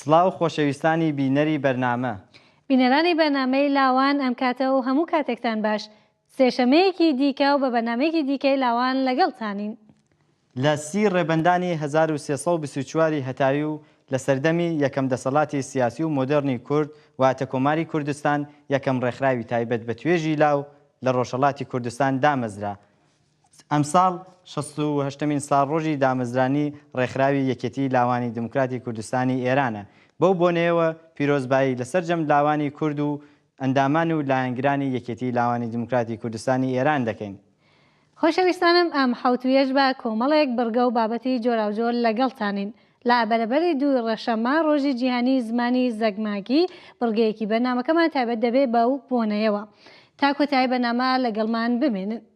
سڵاو خۆشەویستانی بینەری بەرنامە. بینەرانی بەرنامەی لاوان ئەم کاتە و هەموو کاتێکتان باش. سێشەمەیەکی دیکە و بە بەرنامەیەکی دیکەی لاوان لەگەڵتانین. لە سی ڕێبەندانی هەزار و سێ سەد و بیست و چوار ی هەتاوی و لە سەردەمی یەکەم دەسەڵاتی سیاسی و مۆدێڕنی کورد واتە کۆماری کوردستان یەکەم ڕێکخراوی تایبەت بە توێژی لاو لە ڕۆژهەڵاتی کوردستان دامەزرا ئەمساڵ شەست و هەشتەمین ساڵڕۆژی دامەزرانی ڕێکخراوی یەکێتیی لاوانی دیموکراتی کوردستانی ئێرانە، بەو بۆنەیەوە پیرۆزبایی لە سەرجەم لاوانی کورد و ئەندامان و لایەنگرانی یەکێتیی لاوانی دیموکراتی کوردستانی ئێران دەکەین. خۆشەویستانم ئەم حەوتوویەش بە کۆمەڵێک بڕگە و بابەتی جۆراوجۆر لەگەڵتانین. لە بەرەبەری دووی ڕەشەممە، ڕۆژی جیهانیی زمانی زەگماگی، بڕگەیەکی بەرنامەکەمان تایبەت دەبێ بەو بۆنەیەوە. تا کۆتایی بەرنامە لەگەڵمان بمێنن.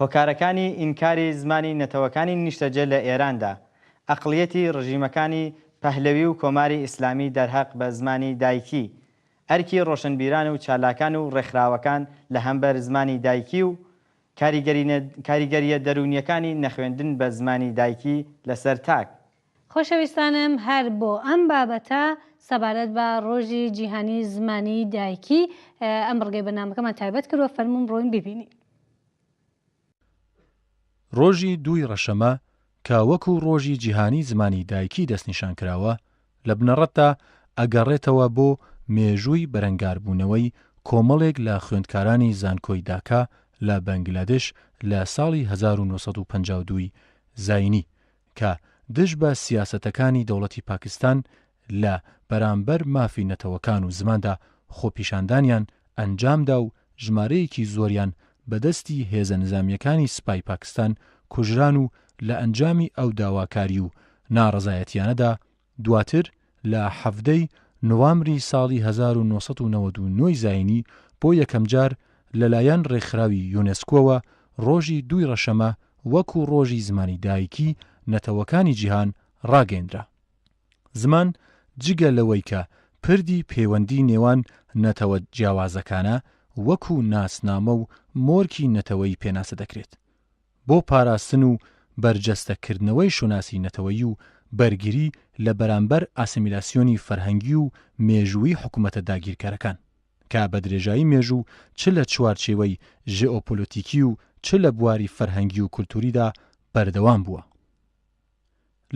هۆکارەکانی ئینکاری زمانی نەتەوەکانی نیشتەجێ لە ئێراندا، ئەقڵیەتی ڕژیمەکانی پەهلەوی و کۆماری ئیسلامی دەرهەق بە زمانی دایکی، ئەرکی ڕۆشنبیران و چالاکان و ڕێکخراوەکان لە هەمبەر زمانی دایکی و کاریگەریە دەروونیەکانی نەخوێندن بە زمانی دایکی لەسەر تاک خۆشەویستانم هەر بۆ ئەم بابەتە سەبارەت بە ڕۆژی جیهانی زمانی دایکی ئەم بڕگەی بەرنامەکەمان تایبەت کردووە فەرموون بڕۆین بیبینین. ڕۆژی دووی ڕەشەمە کە وەکوو ڕۆژی جیهانی زمانی دایکی دەستنیشان کراوە لە بنەڕەتدا ئەگەڕێتەوە بۆ مێژووی بەرەنگاربوونەوەی کۆمەڵێک لە خوێندکارانی زانکۆی داکا لە بەنگلادش لە ساڵی هەزار و نۆ سەد و پەنجا و دوو ی زاینی کە دژ بە سیاسەتەکانی دەوڵەتی پاکستان لە بەرامبەر مافی نەتەوەکان و زماندا خۆپیشاندانیان ئەنجامدا و ژمارەیەکی زۆریان بە دەستی هێزە نزامییەکانی سپای پاکستان کوژران و لە ئەنجامی ئەو داواکاری و ناڕەزایەتییانەدا دواتر لە حەڤدە ی نوامبری ساڵی هەزار و نۆ سەد و نەوەد و نۆ ی زایینی بۆ یەکەمجار لەلایەن ڕێکخراوی یۆنێسکۆوە ڕۆژی دووی ڕەشەمە وەکو ڕۆژی زمانی دایکی نەتەوەکانی جیهان ڕاگەیەندرا زمان جگە لەوەی کە پردی پەیوەندی نێوان نەتەوە جیاوازەکانە وەکو ناسنامە و مۆرکی نەتەوەیی پێناسە دەکرێت بۆ پاراستن و بەرجەستە کردنەوەی شوناسی نەتەوەیی و بەرگری لە بەرامبەر ئاسیمیلاسیۆنی فەرهەنگی و مێژوویی حکومەتە داگیرکەرەکان کە بە درێژایی مێژوو چ لە چوارچێوەی ژێئۆپۆلۆتیکی و چ لە بواری فەرهەنگی و کولتووریدا بەردەوام بووە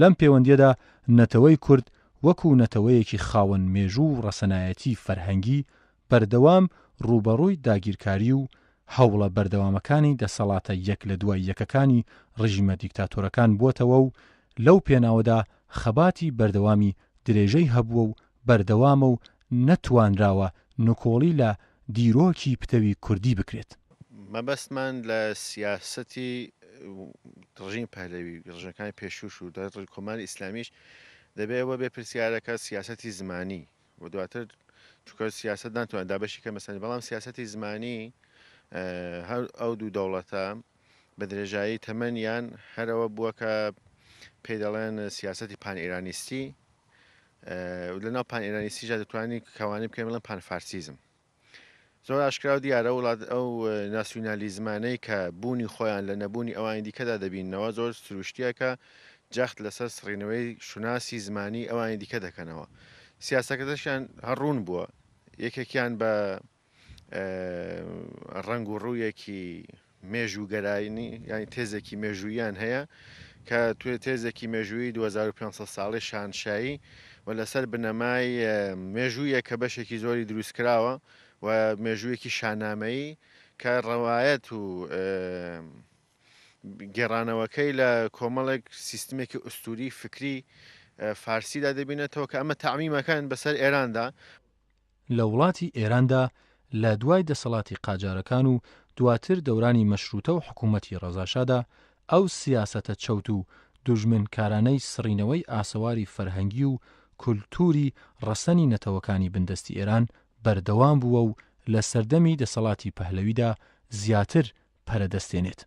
لەم پێوەندییەدا نەتەوەی کورد وەکوو نەتەوەیەکی خاوەن مێژوو و ڕەسەنایەتی فەرهەنگی بەردەوام ڕووبەڕووی داگیرکاری و هەوڵە بەردەوامەکانی دەسەڵاتە یەک لە دوای یەکەکانی ڕژیمە دیکتاتۆرەکان بووەتەوە و لەو پێناوەدا خەباتی بەردەوامی درێژەی هەبووە و بەردەوامە و نەتوانراوە نکۆڵی لە دیرۆکی پتەوی کوردی بکرێت. مەبەستمان لە سیاسەتی ڕژیمی پەهلەوی، ڕژیمەکانی پێشووش و دواتر کۆماری ئیسلامیش دەبێ ئەوە بێ پرسیارەکە سیاسەتی زمانی و دواتر چونکە سیاسەت ناتوانێت دابەشی کە مەسەنی بەڵام سیاسەتی زمانی هەر ئەو دوو دەوڵەتە بە درێژایی تەمەنیان هەرەوە بووە کە پێی دەڵێن سیاسەتی پان ئێرانیستی و لەناو پان ئێرانیسیژا دەتوانین کەوانەی بکەین بڵێن پان فارسیزم زۆر ئاشکرا و دیارە وڵات ئەو ناسیونالیزمانەی کە بوونی خۆیان لە نەبوونی ئەوانی دیکەدا دەبینەوە زۆر سروشتیەکە جەخت لەسەر سڕینەوەی شوناسی زمانی ئەوانی دیکە دەکەنەوە سیاسەکەدەشیان هەڕوون بووە یەکێکیان بە ڕەنگ و ڕوویەکی مێژووگەرایانی ینی تێزێکی مێژوویان هەیە کە توێ تێزێکی مێژووی 2500 ساڵی شانشایی و لەسەر بنەمای مێژوویە کە بەشێکی زۆری دروست کراوە و مێژوویەکی شانامەیی کە ڕەوایەت و گێڕانەوەکەی لە کۆمەڵێک سیستمێکی ئوستوری فکری فارسیدا دەبینێتەوە کە ئەمە تعمیمەکان بەسەر ئێراندا لە وڵاتی ئێراندا لە دوای دەسەڵاتی قاجارەکان و دواتر دەورانی مەشرووتە و حکوومەتی ڕەزاشادا، ئەو سیاسەتە چەوت و دوژمنکارانەی سڕینەوەی ئاسەواری فەرهەنگی و کولتووری ڕەسەنی نەتەوەکانی بندەستی ئێران بەردەوام بووە و لە سەردەمی دەسەڵاتی پەهلەویدا زیاتر پەرە دەستێنێت.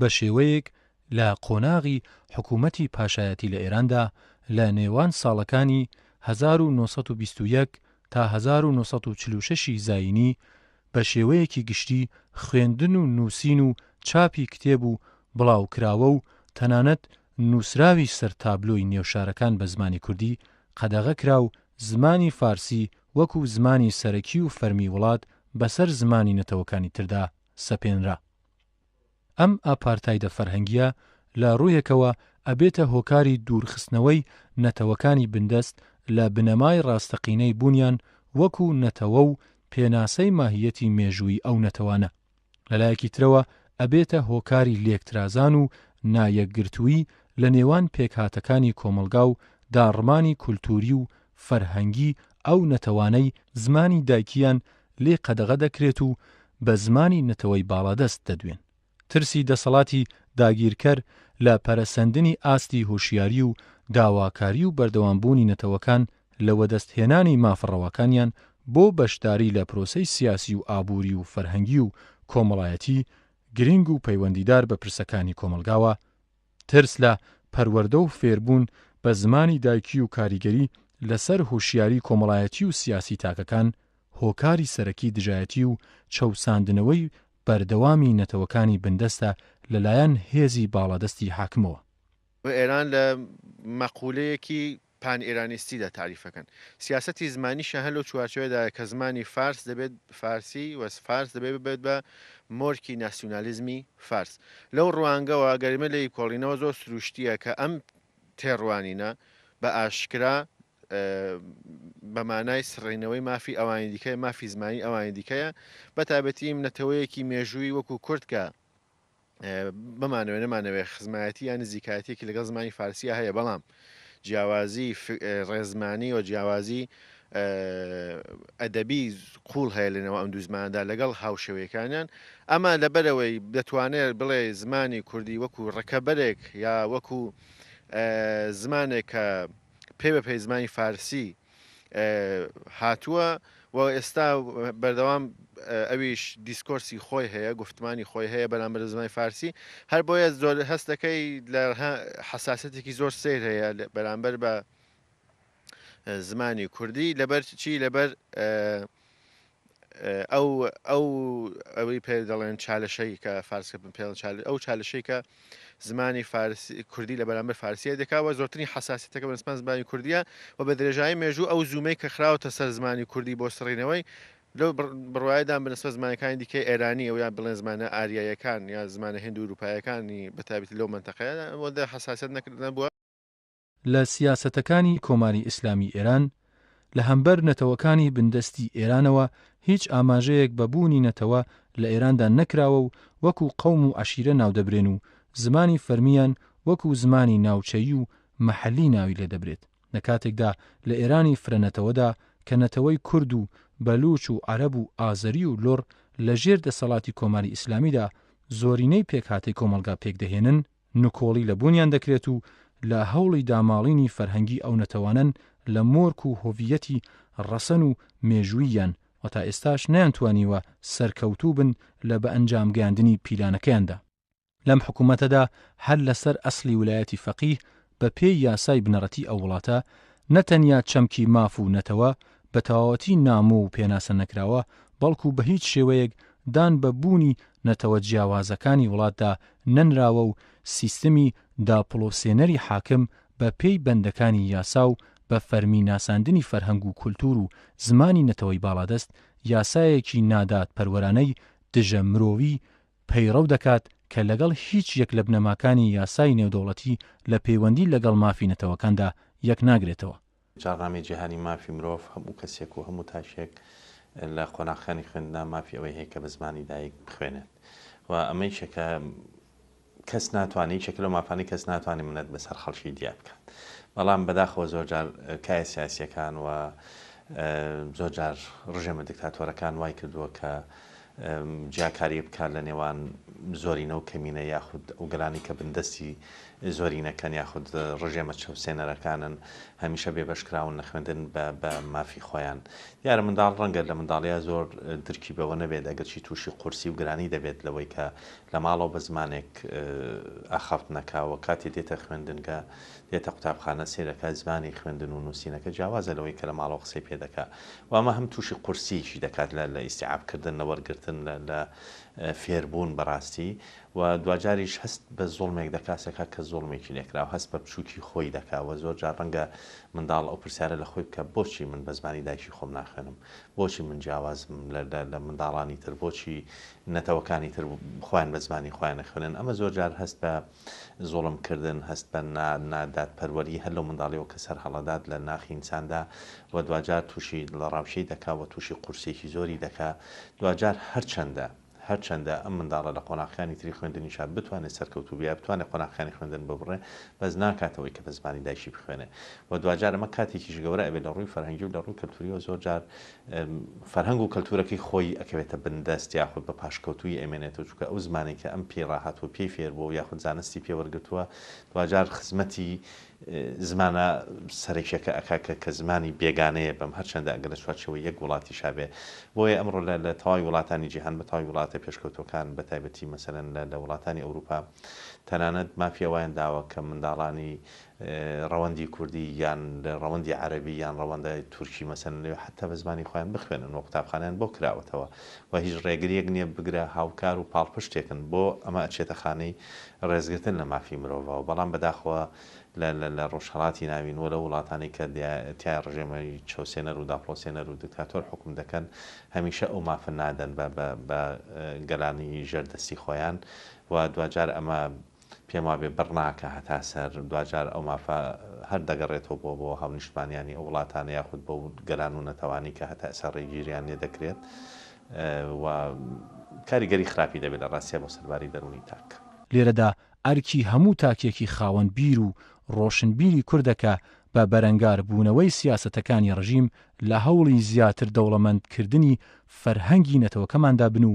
بە شێوەیەک لە قۆناغی حکوومەتی پاشایەتی لە ئێراندا لە نێوان ساڵەکانی هەزار و نۆ سەد و بیست و یەک تا هەزار و نۆ سەد و چل و شەش ی زایینی بە شێوەیەکی گشتی خوێندن و نووسین و چاپی کتێب و بڵاوکراوە و تەنانەت نووسراوی سەر تابلۆی نێو شارەکان بە زمانی کوردی قەدەغە کرا و زمانی فارسی وەکوو زمانی سەرەکی و فەرمی وڵات بەسەر زمانی نەتەوەکانی تردا سەپێنرا. ئەم ئاپارتایدە فەرهەنگیە لە ڕوویەکەوە ئەبێتە هۆکاری دوورخستنەوەی نەتەوەکانی بندەست لە بنەمای ڕاستەقینەی بوونیان وەکو نەتەوە و پێناسەی ماهیەتی مێژووی ئەو نەتەوانە. لە لایەکی ترەوە ئەبێتە هۆکاری لێکترازان و نا یەکگرتووی لە نێوان پێکهاتەکانی کۆمەڵگا و داڕمانی کولتووری و فەرهەنگی ئەو نەتەوانەی زمانی دایکیان لێ قەدەغە دەکرێت و بە زمانی نەتەوەی باڵادەست دەدوێن. ترسی دەسەڵاتی داگیرکەر لە پەرەسەندنی ئاستی هۆشیاری و داواکاری و بەردەوامبوونی نەتەوەکان لە وەدەستهێنانی مافە ڕەواکانیان بۆ بەشداری لە پرۆسەی سیاسی و ئابووری و فەرهەنگی و کۆمەڵایەتی گرینگ و پەیوەندیدار بە پرسەکانی کۆمەڵگاوە، ترس لە پەروەردە و فێربوون بە زمانی دایکی و کاریگەری لەسەر هوشیاری کۆمەڵایەتی و سیاسی تاکەکان هۆکاری سەرەکی دژایەتی و چەوساندنەوەی بەردەوامی نەتەوەکانی بندەستە لەلایەن هێزی باڵادەستی حاکمەوە. ئێران لە مەقولەیەکی پان ئێرانیستی دا تاریف ئەکەن. سیاسەتی زمانیشیان هەر لەو چوارچێوەدایە کە زمانی فارس دەبێت فارسی و فارس دەبێت ببێت بە مۆرکی ناسیونالیزمی فارس. لەو ڕوانگەوە گەر ئێمە لێی کۆڵینەوە زۆر سروشتییە کە ئەم تێڕوانینە بە ئاشکرا بە مانای سڕینەوەی مافی ئەوانی دیکەیە، مافی زمانی ئەوانی دیکەیە، بە تایبەتی نەتەوەیەکی مێژووی وەکوو کورد کە بمانەوێ نەمانەوێ خزمایەتی یا نزیکایەتیەکی لەگەڵ زمانی فارسیە هەیە بەڵام جیاوازی ڕێزمانی و جیاوازی ئەدەبی قوڵ هەیە لەنەوە ئەم دوزماندا لەگەڵ هاوشەوەیەکانیان ئەمە لەبەرەوەی دەتوانێت بڵێ زمانی کوردی وەکو ڕکەبەرێک یا وەکو زمانێک کە پێ بە پەیزمانی فارسی هاتووە و ئێستا بەردەوام ئەویش دیسکۆرسی خۆی هەیە گفتمانی خۆی هەیە بەرامبەر زمانی فارسی هەر بۆیە زۆر هەستەکەی لە حساسەتێکی زۆر سیر هەیە بەرامبەر بە زمانی کوردی لەبەر چی لەبەر ئەو ئەو ئەوەی پێ دەڵێن چالشەی کە فارسکە بن پێڵ چال ئەو چالشەی کە زمانی فارس کوردی لە بەرامبەر فارسیە دەکەوە زۆرترین حساسیتەکە بە سپان زمانی کوردیە و بە درێژایی مێژوو ئەو زوومەی کە خراوەتە سەر زمانی کوردی بۆ سڕینەوەی لەو بڕایدان بنسبە زمانەکانی دیکە ئێرانی ئەو یان بڵێن زمانە ئاریایەکان یا زمانە هندو وروپایەکانی بەتابێت لەو منتەقەیە بۆ دە حساسیت نەکردن بووە لە سیاسەتەکانی کۆماری ئیسلامی ئێران لە هەمبەر نەتەوەکانی بندەستی ئێرانەوە هیچ ئاماژەیەک بە بوونی نەتەوە لە ئێراندا نەکراوە و وەکوو قەوم و عەشیرە ناودەبرێن و زمانی فەرمییان وەکوو زمانی ناوچەیی و مەحەلی ناوی لێ دەبرێت لە کاتێکدا لە ئێرانی فرەنەتەوەدا کە نەتەوەی کورد و بەلووچ و عەرەب و ئازەری و لوڕ لە ژێر دەسەڵاتی کۆماری ئیسلامیدا زۆرینەی پێکهاتەی کۆمەڵگا پێکدەهێنن، نکۆڵی لە بوونیان دەکرێت و لە هەوڵی داماڵینی فەرهەنگی ئەو نەتەوانەن لە مۆرک و هۆڤییەتی ڕەسەن و مێژووییان و تا ئێستاش نەیانتوانیوە سەرکەوتوو بن لە بەئەنجام گەیاندنی پیلانەکەیاندا. لەم حکوومەتەدا هەر لەسەر ئەسڵی ولایەتی فەقیه بە پێی یاسای بنەڕەتی ئەو وڵاتە، نە تەنیا چەمکی ماف و نەتەوە بە تەواوەتی نامۆ و پێناسە نەکراوە، بەڵکو بە هیچ شێوەیەک دان بە بوونی نەتەوە جیاوازەکانی وڵاتدا نەنراوە و سیستمی داپڵۆسێنەری حاکم بە پێی بەندەکانی یاسا و بە فەرمی ناساندنی فەرهەنگ و کولتوور و زمانی نەتەوەی باڵادەست یاسایەکی نادادپەروەرانەی دژە مرۆیی پەیڕەو دەکات کە لەگەڵ هیچ یەک لە بنەماکانی یاسای نێودەوڵەتی لە پەیوەندی لەگەڵ مافی نەتەوەکاندا یەک ناگرێتەوە. جاڕنامەی جیهانی مافی مرۆڤ هەموو کەسێک و هەموو تاکێک لە قۆناخەکانی خوێندندا مافی ئەوەی هەیە کە بە زمانی دایک بخوێنێت و ئەمە یەکێکە کەس ناتوانێت یەکێکە لەو مافانەی کەس ناتوانێت منەت بەسەر خەڵکی دیار بکات بەڵام بەداخەوە زۆرجار کایە سیاسیەکان و زۆرجار ڕژێمە دکتاتۆرەکان وای کردووە کە جیاکاری بکات لە نێوان زۆرینە و کەمینە یاخود ئەو گەلانەی کە بندەستی زۆرینەکەن یاخود ڕژێمە چەوسێنەرەکانن هەمیشە بێبەشکراون لە خوێندن بە مافی خۆیان دیارە منداڵ ڕەنگە لە منداڵیا زۆر درکی بەوە نەبێت ئەگەرچی تووشی قورسی و گرانی دەبێت لەوەی کە لە ماڵەوە بە زمانێک ئاخاوتنەکاوە کاتی دێتە خوێندنگە دێتە قوتابخانە سەیرەکە زمانی خوێندن و نووسینەکە جیاوازە لەوەی کە لە ماڵەوە قسەی پێ دەکا و ئەمە هەم تووشی قورسییەکی دەکات لە لە ئیستیعاب کردن لە وەرگرتن لە لە فێربوون بەڕاستی و دواجاریش هەست بە زوڵمێک دەکا سەکا کە زوڵمێکی لێ کرا و هەست بە بچووکی خۆی دەکا و زۆر جار ڕەنگە منداڵ ئەو پرسیارە لە خۆی بکا بۆچی من بە زمانی دایکی خۆم ناخوێنم بۆچی من جیاوازم لە لە لە منداڵانی تر بۆچی نەتەوەکانی تر خۆیان بە زمانی خۆیان نەخوێنن ئەمە زۆر جار هەست بە زوڵم کردن، هەست بە نا نا دادپەروەری هەر لەو منداڵیەوە کە سەر هەڵەدات لە ناخی ئینساندا و دواجار تووشی دڵەڕاوکێی دەکا و تووشی قورسیەکی زۆری دەکا دواجار هەرچەندە هەرچەندە ئەم منداڵە لە قۆناغەکانی تری خوێندنیشا بتوانێ سەرکەوتوو بێ بتوانێ قۆناغەکانی خوێندن ببڕێ بەس ناکات ئەوەی کە بە زمانی دایکی بخوێنێ و دواجار ئەمە کاتێکیش گەورە ئەبێ لە ڕووی فەرهەنگی و لە ڕووی کەلتوریەوە زۆر جار فەرهەنگ و کەلتوورەکەی خۆی ئەکەوێتە بن دەست یاخود بە پاشکەوتوویی ئەیمێنێتەوە چونکە ئەو زمانەی کە ئەم پێی ڕاهاتووە پێی فێر بووە و یاخود زانستی پێ وەرگرتووە دواجار خزمەتی زمانە سەرەکیەکە ئەکا کە کە زمانی بێگانەیە بم هەرچەندە ئەگەر لە چوارچێوەی یەک وڵاتیشا بێ بۆیە ئەمڕۆ لە لە تەواوی وڵاتانی جیهان بە تەواوی وڵاتە پێشکەوتووەکان بە تایبەتی مەسەلەن لە لە وڵاتانی ئەوروپا تەنانەت مافی ئەوەیان داوە کە منداڵانی ڕەوەندی کوردی یان ڕەوەندی عەرەبی یان ڕەوەندە تورکی مەسەلەن لەوێ حەتتا بە زمانی خۆیان بخوێنن و قوتابخانەیان بۆ کراوەتەوە و هیچ ڕێگریەک نیە بگرە هاوکار و پاڵپشتێکن بۆ ئەمە ئەچێتە خانەی ڕێزگرتن لە مافی مرۆڤەوە بەڵام بەداخەوە لە لە لە ڕۆژهەڵاتی ناوین و لە وڵاتانی کە تیا ڕژێمە چەوسێنەر و داپڵۆسێنەر و دکتاتۆر حوکم دەکەن هەمیشە ئەو مافە نادەن بە بە بە گەلانی ژێر دەستی خۆیان و دواجار ئەمە پێم وابێ بڕ ناکا هەتا سەر، دواجار ئەو مافە هەر دەگەڕێتەوە بۆ بۆ هاونیشتمانیانی ئەو وڵاتانە یاخود بەو گەلان و نەتەوانی کە هەتا ئێسا ڕێگیریان لێ دەکرێت و کاریگەری خراپی دەبێت لە ڕاستیا بۆ سەرباری دەروونی تاک. لێرەدا ئەرکی هەموو تاکێکی خاوەن بیر و ڕۆشنبیری کوردە کە بە بەرەنگار بوونەوەی سیاسەتەکانی ڕژیم لە هەوڵی زیاتر دەوڵەمەند کردنی فەرهەنگی نەتەوەکەماندا بن و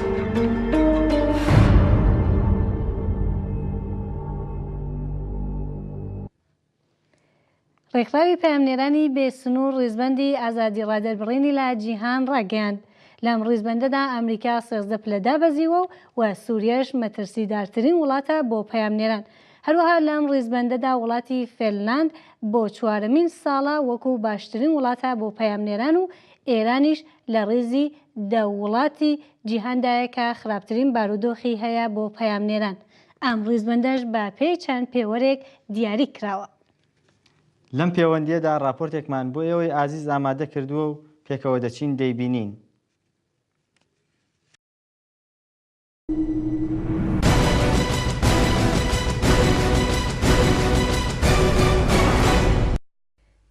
ڕێکخراوی پەیامنێرانی بێسنوور ڕیزبەندی ئازادی ڕادەربڕینی لە جیهان ڕاگەیاند لەم ڕیزبەندەدا ئەمریکا سێزدە پلە دابەزیوە و و سووریەش مەترسیدارترین وڵاتە بۆ پەیامنێران هەروەها لەم ڕیزبەندەدا وڵاتی فێلناند بۆ چوارەمین ساڵە وەکو باشترین وڵاتە بۆ پەیامنێران و ئێرانیش لە ڕیزی دە وڵاتی جیهاندایە کە خراپترین بارودۆخی هەیە بۆ پەیامنێران، ئەم ڕیزبەندەش بە پێی چەند پێوەرێک دیاری کراوە. لەم پێوەندییەدا ڕاپۆرتێکمان بۆ ئێوەی ئازیز ئامادە کردووە و پێکەوە دەچین دەیبینین.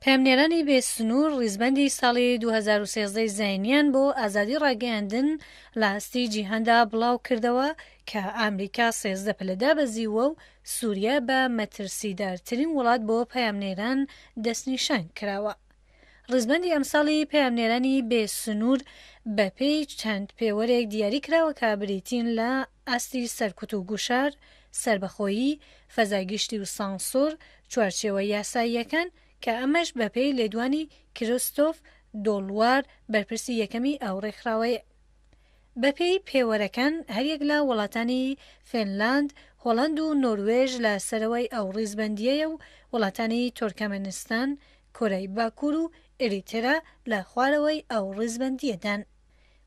پەیامنێرانی بێ سنوور ڕیزبەندی ساڵی دوو هەزار و سێزدە ی زایینیان بۆ ئازادی ڕاگەیاندن لە ئاستی جیهاندا بڵاوکردەوە کە ئامریکا سێزدە پلە دابەزیووە و سووریە بە مەترسیدارترین وڵات بۆ پەیامنێران دەستنیشان کراوە. ڕیزبەندی ئەمساڵی پەیامنێرانی بێ سنوور بە پێی چەند پێوەرێک دیاری کراوە کە بریتین لە ئاستی سەرکوت و گوشار، سەربەخۆیی، فەزای گشتی و سانسۆر، چوارچێوە یاساییەکان، کە ئەمەش بە پێی لێدوانی کریستۆف دۆلوار بەرپرسی یەکەمی ئەو ڕێکخراوەیە. بە پێی پێوەرەکان هەریەک لە وڵاتانی فێنلاند، هۆڵەند و نۆروێژ لە سەرەوەی ئەو ڕیزبەندییەیە و وڵاتانی تۆرکەمەنستان، کۆرەی باکوور و ئێریترا لە خوارەوەی ئەو ڕیزبەندییەدان.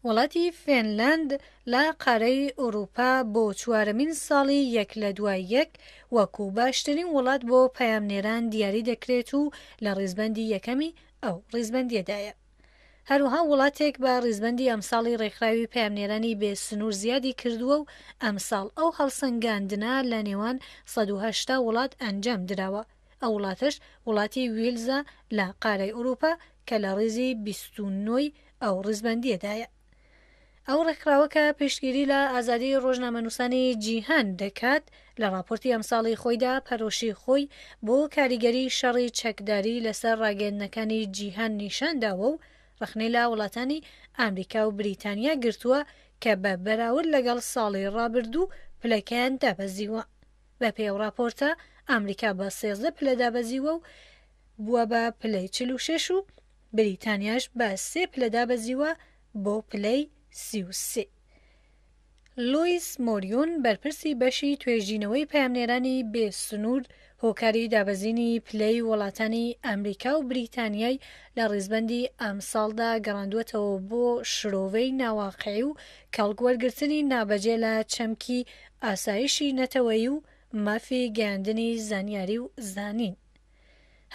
وڵاتی فێنلاند لە قارەی ئورووپا بۆ چوارەمین ساڵی یەک لە دوای یەک وەکوو باشترین وڵات بۆ پەیامنێران دیاری دەکرێت و لە ڕیزبەندی یەکەمی ئەو ڕیزبەندییەدایە. هەروەها وڵاتێک بە ڕیزبەندی ئەمساڵی ڕێکخراوی پەیامنێرانی بێ سنوور زیادی کردووە و ئەمساڵ ئەو هەڵسەنگاندنە لە نێوان سەد و هەشتا وڵات ئەنجام دراوە. ئەو وڵاتەش وڵاتی ویلزە لە قارەی ئورووپا کە لە ڕیزی بیست و نۆی ئەو ڕیزبەندییەدایە. ئەو ڕێکخراوە کە پشتگیری لە ئازادی ڕۆژنامەنووسانی جیهان دەکات، لە ڕاپۆرتی ئەمساڵی خۆیدا پەرۆشی خۆی بۆ کاریگەری شەڕی چەکداری لەسەر ڕاگەیەندنەکانی جیهان نیشان داوە و ڕەخنەی لە وڵاتانی ئامریکا و بریتانیا گرتووە کە بە بەراورد لەگەڵ ساڵی ڕابردوو پلەکەیان دابەزیوە. بەپێی ئەو ڕاپۆرتە، ئامریکا بە سێزدە پلە دابەزیووە و بووە بە پلەی چل و شەش و بریتانیاش بە سێ پلە دابەزیووە بۆ پلەی سی و سێ. لویس مۆریون، بەرپرسی بەشی توێژینەوەی پەیامنێرانی بێ سنوور هۆکاری دابەزینی پلەی وڵاتانی ئامریکا و بریتانیای لە ڕیزبەندی ئەمساڵدا گەڕاندووەتەوە بۆ شرۆڤەی ناواقعی و کەڵک وەرگرتنی نابەجێ لە چەمکی ئاسایشی نەتەوەیی و مافی گەیاندنی زانیاری و زانین.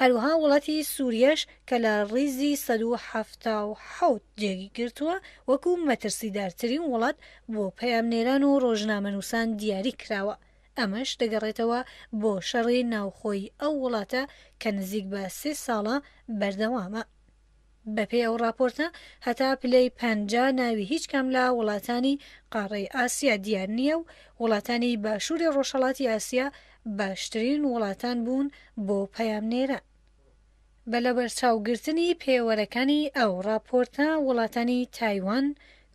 هەروەها وڵاتی سووریەش کە لە ڕیزی سەد و حەفتا و حەوت جێگی گرتووە، وەکوو مەترسیدارترین وڵات بۆ پەیامنێران و ڕۆژنامەنووسان دیاری کراوە، ئەمەش دەگەڕێتەوە بۆ شەڕی ناوخۆی ئەو وڵاتە کە نزیک بە سێ ساڵە بەردەوامە. بەپێی ئەو ڕاپۆرتە، هەتا پلەی پەنجا ناوی هیچ کام لە وڵاتانی قاڕەی ئاسیا دیار نییە و وڵاتانی باشووری ڕۆژهەڵاتی ئاسیا باشترین وڵاتان بوون بۆ پەیامنێران. بە لەبەرچاوگرتنی پێوەرەکانی ئەو ڕاپۆرتە، وڵاتانی تایوان،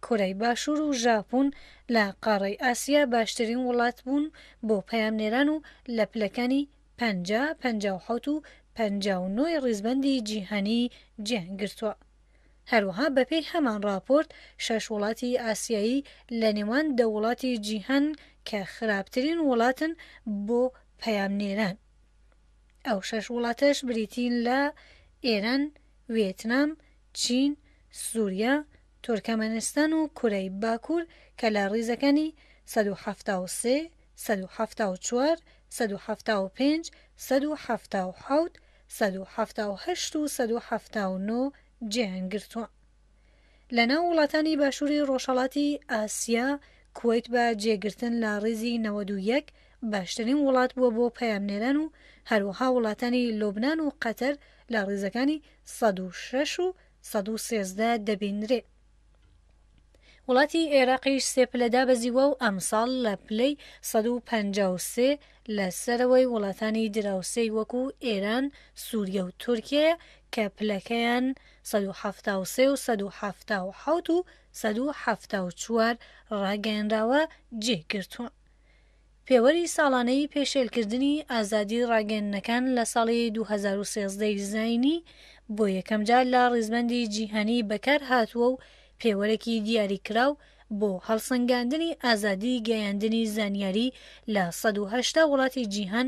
کۆرای باشوور و ژاپۆن لە قاڕەی ئاسیا باشترین وڵات بوون بۆ پەیامنێران و لە پلەکانی. پەنجا، پەنجا و حەوت و پەنجا و نۆی ڕیزبەندی جیهانی جێیان گرتووە. هەروەها بەپێی هەمان ڕاپۆرت شەش وڵاتی ئاسیایی لە نێوان دە وڵاتی جیهان کە خراپترین وڵاتن بۆ پەیامنێران. ئەو شەش وڵاتەش بریتین لە، ئێران، ویێتنام، چین، سووریا، تورکەمەنستان و کورەی باکوور کە لە ڕیزەکانی سەد و حەفتا و سێ، سەد و حەفتا و چوار سەد و حەفتا و پێنج سەد و حەفتا و حەوت سەد و حەفتا و هەشت و سەد و حەفتا و نۆ جێیان گرتووە لە ناو وڵاتانی باشووری ڕۆژهەڵاتی ئاسیا کوەیت بە جێگرتن لە ڕیزی نەوەد و یەک باشترین وڵات بووە بۆ پەیامنێران و هەروەها وڵاتانی لوبنان و قەتەر لە ڕیزەکانی سەد و شەش و سەد و سێزدە دەبینرێ. وڵاتی ئێراقیش سێ پلە دابەزیوە و ئەمساڵ لە پلەی سەد و پەنجا و سێ لە سەرەوەی وڵاتانی دراوسێی وەکو ئێران، سووریە و تورکیەیە کە پلەکەیان سەد و حەفتا و سێ و سەد و حەفتا و حەوت و سەد و حەفتا و چوار ڕاگەیەنراوە جێی گرتوون. پێوەری ساڵانەی پێشێلکردنی ئازادی ڕاگەیەندنەکان لە ساڵی دوو هەزار و سێزدە ی زایینی بۆ یەکەمجار لە ڕیزبەندی جیهانی بەکارهاتووە و پێوەرێکی دیاریکراو بۆ هەڵسەنگاندنی ئازادی گەیاندنی زانیاری لە سەد و هەشتا وڵاتی جیهان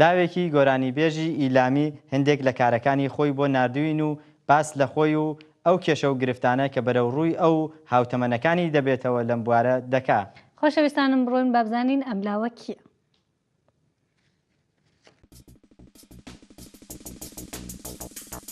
لاوێکی گۆرانیبێژی ئیلامی هندێک لە کارەکانی خۆی بۆ ناردووین و باس لە خۆی و ئەو کێشە و گرفتانە کە بەرەو ڕووی ئەو و هاوتەمەنەکانی دەبێتەوە لەم بوارە دەکا. خۆشەویستانم بڕۆین با بزانین ئەم لاوە کییە؟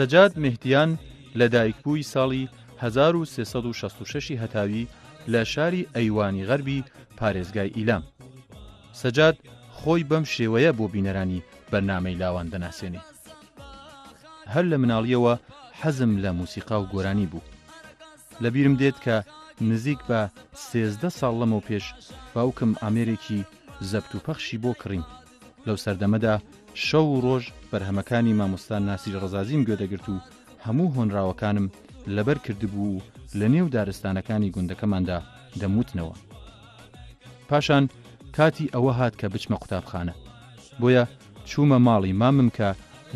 سەجاد مهدیان لە دایکبووی ساڵی 1966 هەتاوی لە شاری ئەیوانی غەربی پارێزگای ئیلام سەجاد خۆی بەم شێوەیە بۆ بینەرانی بەرنمەی لاوان دەناسێنی هەر لە مناڵیەوە حەزم لە موسیقا و گۆرانی بوو لە بیرم دێت کە نزیک بە سێزدە ساڵ لەمەو پێش باوکم ئامێرێکی زەبت و پەخشی بۆ کڕین لەو سەردەمەدا شەو و ڕۆژ بەرهەمەکانی مامۆستان ناسری ڕزازیم گوێدەگرت و هەموو هۆنراوەکانم لەبەر کردبوو و لە نێو دارستانەکانی گوندەکەماندا دەموتنەوە پاشان کاتی ئەوە هات کە بچمە قوتابخانە بۆیە چوومە ماڵی مامم کە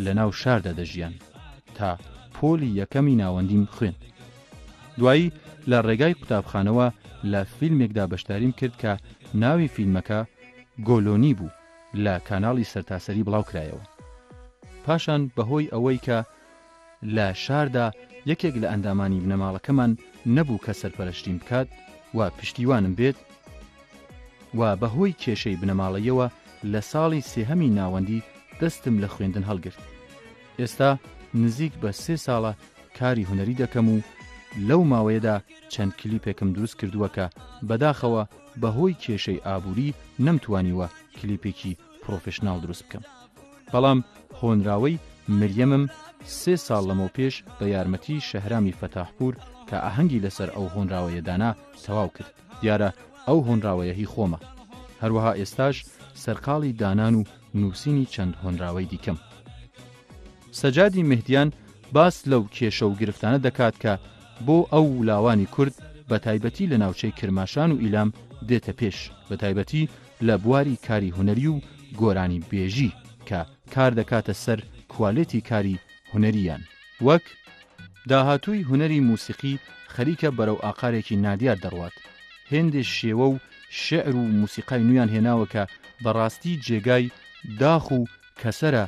لە ناو شاردا دەژیان تا پۆلی یەکەمی ناوەندیم خوێند دوایی لە ڕێگای قوتابخانەوە لە فیلمێکدا بەشداریم کرد کە ناوی فیلمەکە گۆلۆنی بوو لە کاناڵی سەرتاسەری بڵاوکرایەوە پاشان بەهۆی ئەوەی کە لە شاردا یەکێک لە ئەندامانی بنەماڵەکەمان نەبوو کە سەرپەرەشتیم بکات و پشتیوانم بێت و بەهۆی کێشەی بنەماڵەییەوە لە ساڵی سێهەمی ناوەندی دەستم لە خوێندن هەڵگرت. ئێستا نزیک بە سێ ساڵە کاری هونەری دەکەم و لەو ماوەیەدا چەند کلیپێکم دروست کردووە کە بەداخەوە بەهۆی کێشەی ئابووری نەمتوانیوە کلیپێکی پڕۆفشناڵ دروست بکەم بەڵام هۆنراوەی مریەمم سێ ساڵ لەمەو پێش بە یارمەتی شەهرامی فەتاحپور کە ئاهەنگی لەسەر ئەو هۆنراوەیە دانا تەواو کرد دیارە ئەو هۆنراوەیە هی خۆمە هەروەها ئێستاش سەرقاڵی دانان و نووسینی چەند هۆنراوەی دیکەم سەجادی مهدیان باس لەو کێشە و گرفتانە دەکات کە بۆ ئەو ولاوانی کورد بە تایبەتی لە ناوچەی کرماشان و ئیلام دێتە پێش بە تایبەتی لە بواری کاری هونەری و گۆرانی بێژی کە کار دەکاتە سەر کوالێتی کاری هونەرییان وەک داهاتووی هونەری موسیقی خەریکە بەرەو ئاقارێکی نادیار دەڕوات هێندێ شێوە و شێعر و موسیقای نویان هێناوە کە بە ڕاستی جێگای داخ و کەسەرە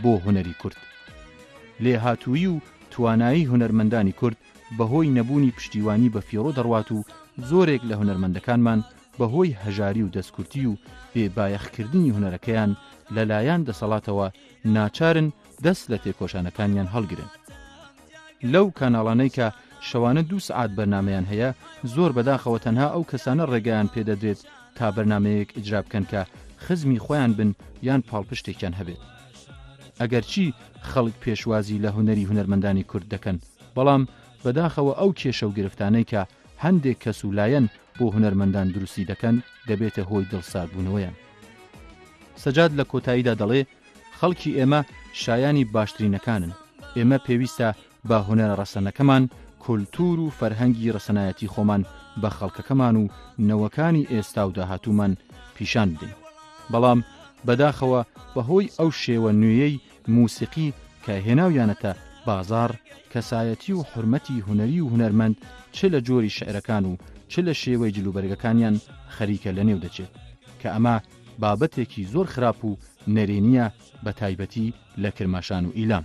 بۆ هونەری کورد لێهاتوویی و توانایی هونەرمەندانی کورد بەهۆی نەبوونی پشتیوانی بەفیڕۆ دەڕوات و زۆرێک لە هونەرمەندەکانمان بەهۆی هەژاری و دەستکورتی و بێ بایەخکردنی هونەرەکەیان لەلایان دەسەڵاتەوە ناچارن دەست لە تێکۆشانەکانیان هەڵگرن لەو کاناڵانەی کە شەوانە دوو سەعات بەرنمەیان هەیە زۆر بەداخەوە تەنها ئەو کەسانە ڕێگەیان پێدەدرێت تا بەرنمەیەک ئیجرا بکەن کە خزمی خۆیان بن یان پاڵپشتێکیان هەبێت. ئەگەرچی خەڵک پێشوازی لە هونەری هونەرمەندانی کورد دەکەن، بەڵام بەداخەوە ئەو کێشە و گرفتانەی کە هەندێک کەس و لایەن بۆ هونەرمەندان دروستی دەکەن دەبێتە هۆی دڵساردبوونەوەیان. سەجاد لە کۆتاییدا دەڵێ، خەڵکی ئێمە شایانی باشترینەکانن، ئێمە پێویستە با هونەرە ڕەسەنەکەمان، کولتوور و فەرهەنگی ڕەسەنایەتی خۆمان بە خەڵکەکەمان و نەوەکانی ئێستا و داهاتوومان پیشان بدەین. بەڵام بەداخەوە بەهۆی ئەو شێوە نوێیەی مووسیقی کە هێناویانەتە بازاڕ، کەسایەتی و حورمەتی هونەری و هونەرمەند چ لە جۆری شیعرەکان و چ لە شێوەی جلوبەرگەکانیان خەریکە لەنێو دەچێت، کە ئەمە بابەتێکی زۆر خراپ و نەرێنییە بەتایبەتی لە کرماشان و ئیلام.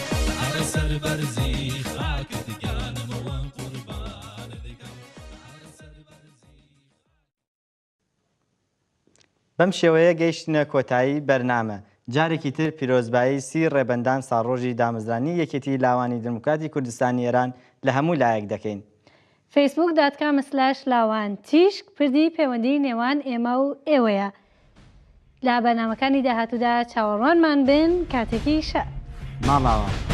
بەم شێوەیە گەیشتنە کۆتایی بەرنامە جارێکی تر پیرۆزبایی سی ڕێبەندان ساڕۆژی دامەزرانی یەکێتی لاوانی دموکراتی کوردستانی ئێران لە هەموو لایەک دەکەین فەیسبووک دات کام سلاش لاوان تیشک پردی پەیوەندی نێوان ئێمە و ئێوەیە لە بەرنامەکانی داهاتوودا چاوەڕوانمان بن کاتێکی شە ماڵاوە.